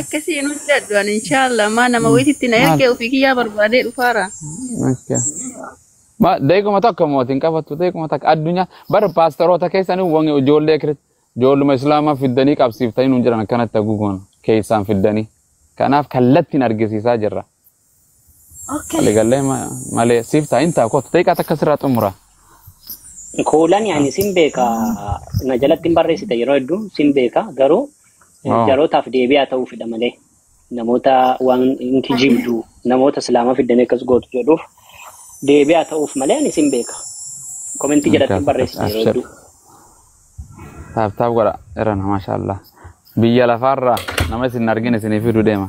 Akkasii hin hojjedhu ani inshaallah maa nama wayititti na Maal? ergee ofii kiyyaa barbaadee dhufaara. Okay. Ma deeguma takka mooti hin qabattu deeguma takka addunyaa bara paastaroota keessanii wange ijoollee kiri ijoolluma islaamaa fiddanii qabsiiftanii nuun jiran akkanatti haguuguman keessaan fiddanii kanaaf kallattiin argisiisaa jirra Okay. Waliigallee ma- malee siif ta'a hin ta'a kootu xiqqaa takka sirraa xumura. Kuulani ani sin beeka na jalatti hin barreessita yeroo hedduu sin beeka garuu eh, Oo. jarootaaf deebi'aa ta'uu fedha malee namoota waan hin kijibdu namoota islaama fiddan akkas gootu jedhuuf deebi'aa ta'uuf malee ani sin beeka. Komentii jalatti hin Akkas akkas barreessita yeroo abshir. hedduu. Taaf taaf godha irrana maashaallah. Biyya lafaarraa nama isin hin argine isinii fiduu deema.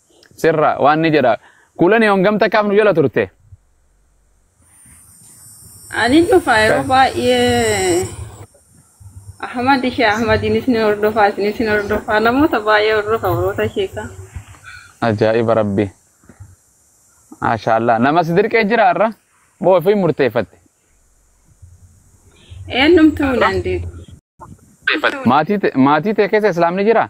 sirra waan ni jedha kuulanii hongam takkaaf nu jala turte Ani dhufa yeroo baay'ee Ahmad ishee Ahmadiinis ni hordofaa isinis ni hordofaa namoota baay'ee hordofa warroota sheekaa. ajaa'iba rabbi maashaallah nama si dirqee jira irra moo ofii murteeffatte Eenyumtuu hin dandeettu. maatii te- maatii tee keessa islaamni jira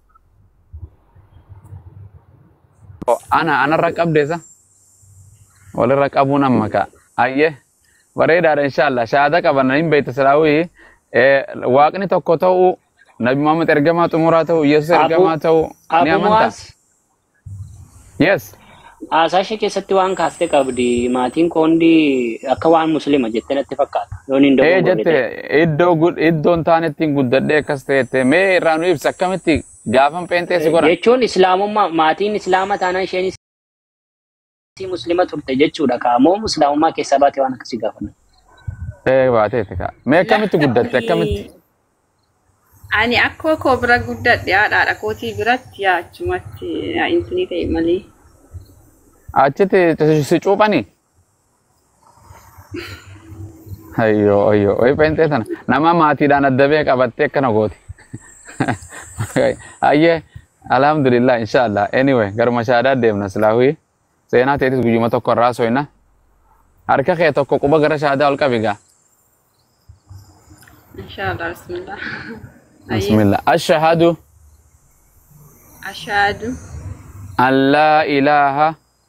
Oh, ana anarra qabdeesa walirra qabuun amma ka'a ayye bareedaadha inshaallah shahaada qabanna hin beekta silaawii eh, waaqni tokko ta'uu nabi muhammad ergamaa xumuraa ta'uu yesus Abu ergamaa ta'uu ni Abu amanta Muaz Yes. Haasaa ishee keessatti waan kaaste qabdi. Maatiin koo hundi akka waan muslima jettee natti fakkaata. Yoon hin Ee dogongorre jette ta'e. iddoo gud- iddoon taanetti hin guddadhee akkas ta'eette mee irraa nu ibsa akkamitti gaafan pheenxee si godhan. Jechuun islaamummaa maatiin islaama taanaan isheenis Atii muslima turte jechuudha kaa moo muslaamummaa keessaa baate waan akkasii gaafadha. Ee baateeti kaa. Mee akkamitti guddatte akkamitti? Lakki ani akkoo koo bira guddadhe haadhaadha kootii biratti yaa achumatti yaa intinii ta'e malee. Achitti si cuuphanii? Ayyoo ayyoo wayi pheenxee tana nama maatiidhaan adda bee qabattee akkana gooti. Ayyee alhamdulillah inshaallah anyway garuma shaadaa deemna silaahuyi seenaa teetis guyyuma tokko irraa soyna harka kee tokko quba gara shaadaa ol qabi gaa. Inshallah bismillah. Ayyee Bismillah. Ashahadu ashhadu an laa ilaaha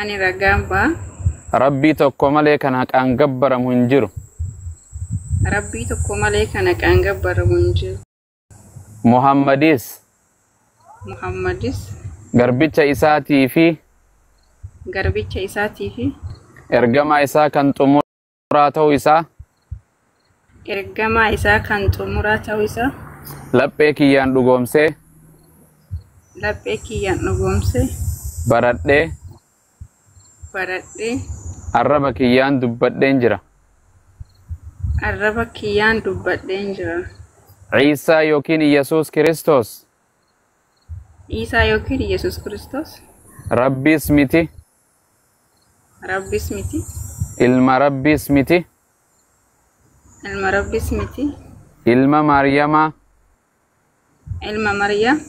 Ani ragaan ba'a. Rabbii tokko malee kan haqaan gabbaramu hin jiru. Rabbii tokko malee kan haqaan gabbaramu hin jiru. Muhammadis Muhammadis garbicha isaatii fi garbicha isaatii fi ergamaa isaa kan xumura. xumuraa ta'uu isaa ergamaa isaa kan xumuraa ta'uu isaa laphee kiyyaan dhugoomsee laphee kiyyaan dhugoomsee baradhee baradhee arraba kiyyaan dubbadheen jira. arraba kiyyaan dubbadheen jira. Ciisaa yookiin Yesuus Kiristoos Iisaa yookiin Yesuus Kiristoos rabbiis miti Rabbis miti. Ilma Rabbiis miti. Ilma Rabbis miti. Ilma Maariyamaa. Ilma Maryam.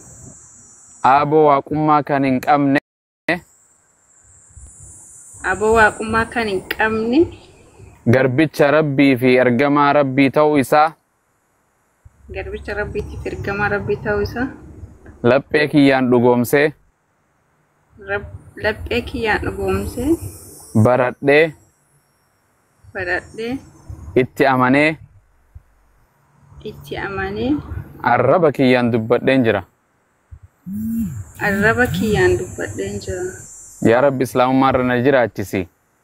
Aaboo waaqummaa kan hin qabne. Aboo waaqummaa kan hin qabne. Garbicha Rabbii fi ergamaa Rabbii ta'uu isaa. Garbicha Rabbiitiif ergamaa Rabbii ta'uu isaa. Laphee kiyyaan dhugoomsee. Rab- Laphee kiyyaan dhugoomsee baradhee baradhee itti amanee itti amanee arraba kiyyaan dubbadheen jira. arraba kiyyaan dubbadheen jira. Yaa Rabbi Islaamummaa irra na jiraachisi.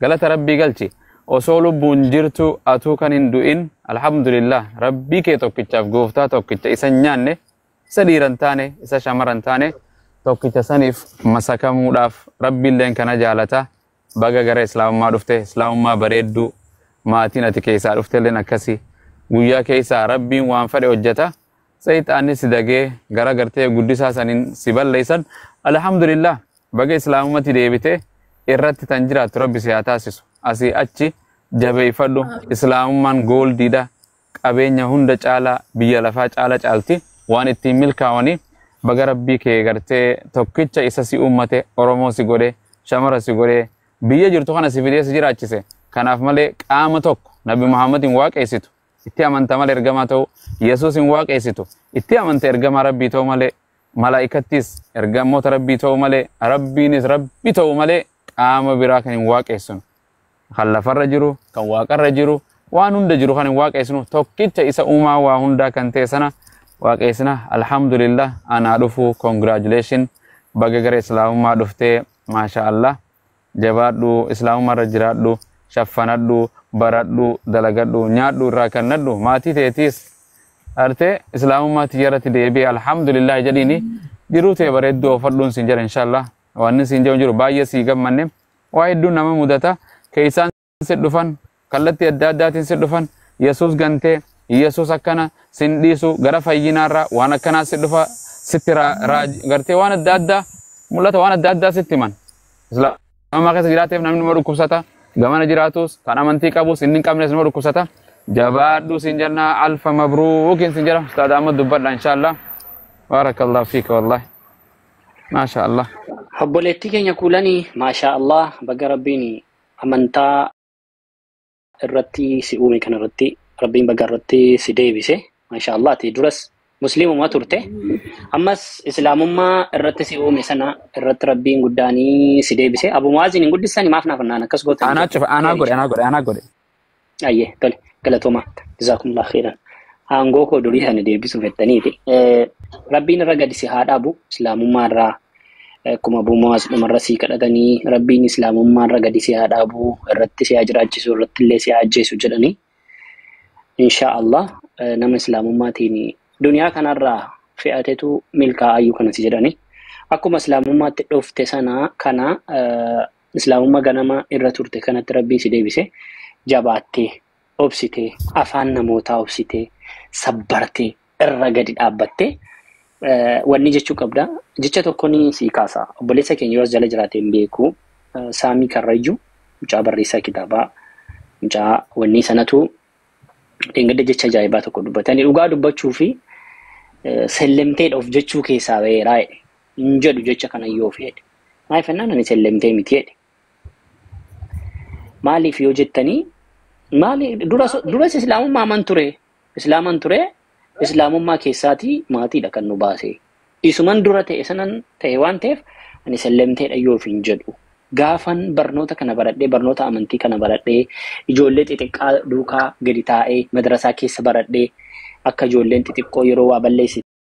galata rabbii galchi osoo lubbuun jirtu atuu kan hin du'in alhamdulillah rabbii kee tokkichaaf gooftaa tokkicha isa hin nyaanne isa dhiira hin taane isa shamara hin taane tokkicha saniif masakamuudhaaf rabbiilleen kana jaalata baga gara islaamummaa dhufte islaamummaa bareedduu maatiin ati keessaa dhuftelleen akkasi guyyaa keessaa rabbiin waan fedhe hojjeta seexaanni si dagee gara gartee guddisaa saniin si balleessan alhamdulillah Baga islaamumatti deebite irratti tan jiraattu rabbi si haa taasisu. Asii achi jabeeffadhu islaamummaan gooldiidha. Qabeenya hunda caalaa biyya lafaa caala caalti waan ittiin milkaawanii baga rabbii kee gartee tokkicha isa si uummate Oromoo si godhe shamara si godhe biyya jirtu kana si fidee si jiraachise. Kanaaf malee qaama tokko Nabi Muhammad hin waaqeessitu itti amanta malee ergamaa ta'uu Yesuus hin waaqeessitu itti amanta ergamaa rabbii ta'uu malee malaa'ikattis ergamoota rabbii ta'uu malee rabbiinis rabbi ta'uu malee qaama biraa kan hin waaqeessinu kan lafarra jiru kan waaqarra jiru waan hunda jiru kan hin waaqeessinu tokkicha isa uumaa waa hundaa kan ta'e sana waaqeessina alhamdulillah anaa dhufu congratulation baga gara islaamummaa dhuftee maashaa allah Jabaadhu islaamumma irra jiraadhu shaffanadhu baradhu dalagadhu nyaadhu irraa kannadhu maatii teetiis artee islaamummaa tiyya irratti deebi'e alhamdulillahi jedhiini jiruu tee bareedduu oofadhuun siin jedha inshallah wanni siin jedhu jiru baay'ee sii gammanne waa hedduun nama mudata keessaan si dhufan kallattii adda addaatiin si dhufan yesus gantee yesus akkana sin dhiisu gara fayyinaarraa waan akkanaa si dhufa sitti raa- raaj gartee waan adda addaa mul'ata waan adda addaa sitti himan islaamummaa keessa jiraateef namni nama dhukkubsata gamana jiraatus kan amantii qabus inni hin qabnes nama dhukkubsata jabaadhu sin jenna alfa mabruukin sin jedha ustaad ahmad dubbadha inshaallah baarakallahu fiika wallahi maasha allah Obboleettii keenya kuulanii maashaa Allah baga rabbiin amantaa irratti si uume kana irratti rabbiin baga irratti si deebise masha Allah ati duras muslimuma turte ammas islaamummaa irratti si uume sana irratti rabbiin guddaanii si deebise abu mu'aaziin hin guddisani maaf naaf naan akkas gootan Anaa cufa, anaa godhe, anaa godhe, anaa godhe. Ayyee tole galatooma jazaakumullah khairan. Aangoo koo durii sana deebisuu fettaniiti. Rabbiin irra gadi si haa dhaabu islaamummaa irraa akkuma buumaas dhumarra sii kadhatanii rabbiin islaamummaa irra gadi si haa dhaabu irratti si haa jiraachisu irratti illee si haa ajjeesu jedhanii insha Allah nama islaamummaatiin duniyaa kanarraa fe'atetu milkaa'ayyuu kana si jedhanii akkuma islaamummaatti dhufte sana kana Islaamummaa ganama irra turte kanatti Rabbiin si deebise jabaattee obsitee afaan namootaa obsitee sabbartee irra gadi dhaabbattee wanni jechuu qabda. Jecha tokkoon sii kaasa. Obboleessa keenya yoo as jala jiraate hin beeku. Saamii Karrayyuu mucaa barreessaa kitaabaa mucaa wannii sanatu dheengadda jecha ajaa'ibaa tokko dubbatanii dhugaa dubbachuu fi sellemteedha of jechuu keessaa ba'eeraa jedhe. hin jedhu jecha kana yoo feedhe. Maal fennaan ani sellemtee miti jedhe. Maaliif yoo jettanii maali dura duras islaamummaa aman ture islaaman ture islaamummaa keessaatii maatiidha kan nu baase. Isuman dura ta'e sanan ta'e waan ta'eef ani sellemteedha yoo hin jedhu. Gaafan barnoota kana baradhee barnoota amantii kana baradhee ijoollee xixiqqaa duukaa gadi taa'ee madrasaa keessa baradhee akka ijoolleen xixiqqoo yeroo waa balleessi